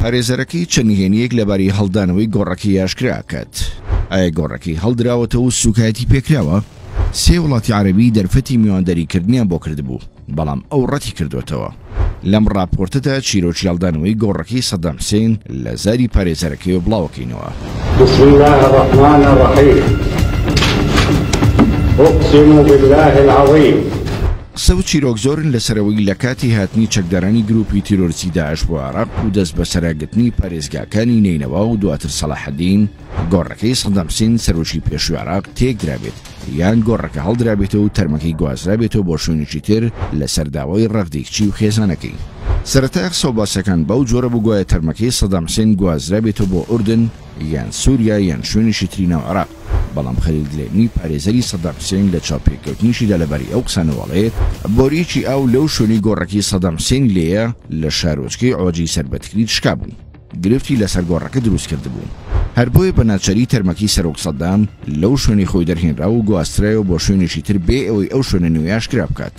پارێزەرەکەی چە نهێنیەک لەباری هەڵدانەوەی گۆڕەکەی یاشکرا کات ئایا گۆڕەکەی هەڵدراوەتە و سوکایەتی پێکراوە سێ وڵاتی عربی دەرفەتی میواندەریکردنیان بۆ کردبوو بەڵام ئەو ڕەتی کردوتەوە لەم ڕاپۆرتەدا چیرۆکی هەڵدانەوەی گۆڕەکەی سەدام حسین لە زاری پارێزەرەکەی و بڵاوەکەینەوە بسم الله الرحمن الرحیم أقسم بالله العظيم قسە و چیرۆک زۆرن لەسەرەوەی لەکاتی هاتنی چەکدارانی گروپی تیرۆرستی داعش بۆ عێراق و دەست بەسەراگرتنی پارێزگاکانی نەینەوا و دواتر سەڵاحەدین، گۆڕەکەی سەدام حسین سەرۆکی پێشوی عێراق تێکدرابێت یان گۆڕەکە هەڵدرابێتەوە و تەرمەکەی گوازرابێتەوە بۆ شوێنێکی تر لەسەر داوای ڕەغدی کچی و خێزانەکەی. سەرەتای قسە و باسەکان بەو جۆرە بوو گوایە تەرمەکەی سەدام حسین گوازرابێتەوە بۆ ئوردن، یان سوریا یان شوێنیشی تری ناو عێراق، بەڵام خەلیل دلێمی پارێزەری سەدام حسێن لە چاوپێکەوتنیشیدا لەبارەی ئەو قسانەوە ئەڵێ، بۆریەکی ئاو لەو شوێنەی گۆڕەکەی سەدام حسێنی لێیە لە شارۆچکەی عۆجی سەر بە تکریت شکابوو، گرفتی لەسەر گۆڕەکە دروست کردبوو، هەر بۆیە بە ناچاری تەرمەکەی سەرۆک سەدام لەو شوێنەی خۆی دەرهێنرا و گواسترایەوە بۆ شوێنیشی تر بێ ئەوەی ئەو شوێنە نوێیە ئاشکرا بکات.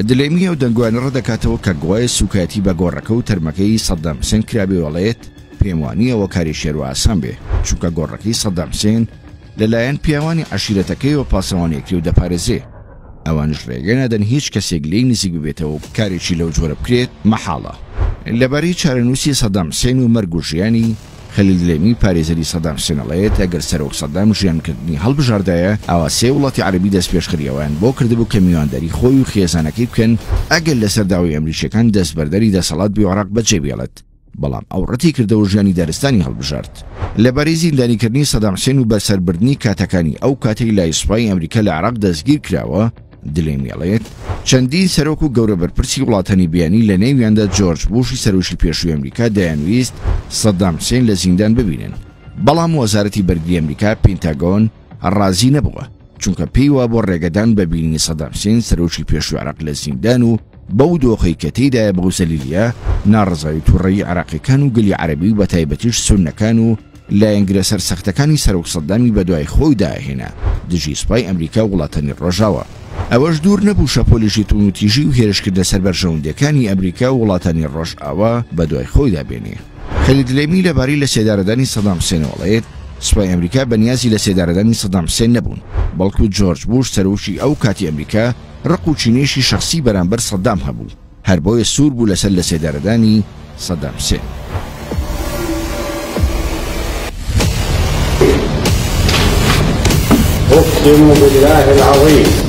دلێمی ئەو دەنگۆیانە ڕەتدەکاتەوە کە گوایە سوکایەتی بە گۆڕەکە و تەرمەکەی سەدام حسێن کرابێ و ئەڵێت، پێم وانییەوە کاری شێرۆ ئاسان بێ، چونکە گۆڕەکەی سەدام حسێن لە لایەن پیاوانی عەشیرەتەکەیەوە پاسەوانی ئەکرێ و دەپارێزێ، ئەوانیش رێگە نادەن هیچ کەسێک لێی نزیک ببێتەوە و کارێکی لەو جۆرە بکرێت مەحاڵە. لەبارەی چارەنووسی سەدام حسێن و مەرگ و ژیانی، خەلیل دلێمی پارێزەری سەدام حسێن ئەڵێت، ئەگەر سەرۆک سەدام ژیانکردنی هەڵبژاردایە، ئەوا سێ وڵاتی عەرەبی دەستپێشخەری ئەویان بۆ کردبوو کە میوانداری خۆی و خێزانەکەی بکەن، ئەگەر لەسەر داوای ئەمریکییەکان دەستبەرداری دەسەڵات بێ و عێراق بەجێبێڵێت. بەڵام ئەو ڕەتیکردەوە ژیانی دارستانی هەڵبژارد. لەبارەی زیندانیکردنی سەدام حسێن و بەسەربردنی کاتەکانی ئەو کاتەی لای سوپای ئەمریکا لە عێراق دەستگیرکراوە، دلێمیڵێت، چەندین سەرۆک و گەورە بەرپرسی وڵاتانی بیانی لەنێویاندا جۆرج بوشی سەرۆکی پێشووی ئەمریکا دەیانویست سەدام حسێن لە زیندان ببینن، بەڵام وەزارەتی بەرگری ئەمریکا، پینتاگۆن، ڕازی نەبووە، چونکە پێی وابوو ڕێگەدان بە بینینی سەدام حسێن سەرۆکی پێشووی عێراق لە زیندان و بەو دۆخەی کە تێیدایە بەو زەلیلییە، ناڕەزایی توڕەیی عێراقییەکان و گەلی عەرەبی و بەتایبەتیش سوننەکان و لایەنگرە سەرسەختەکانی سەرۆک سەدامی بەدوای خۆیدا هێنا دژی سوپای ئەمریکا و وڵاتانی ڕۆژاوا. ئەوەش دوور نەبوو شەپۆلێکی توندوتیژی و هێرشکردە سەر بەرژەوەندییەکانی ئەمریکا و وڵاتانی ڕۆژاوا بەدوای خۆیدا بێنێ. خەلید لەیمی لەبارەی لەسێدارەدانی سەدام حسێن ئەڵێت، سوپای ئەمریکا بەنیازی لەسێدارەدانی سەدام حسێن نەبوون، بەڵکو جۆرج بوش سەرۆکی ئەو کاتی ئەمریکا ڕق و کینەیەکی شەخسی بەرامبەر سەدام هەبوو، هەر بۆیە سوور بوو لەسەر لەسێدارەدانی سەدام حسێن. اقسم بالله العظيم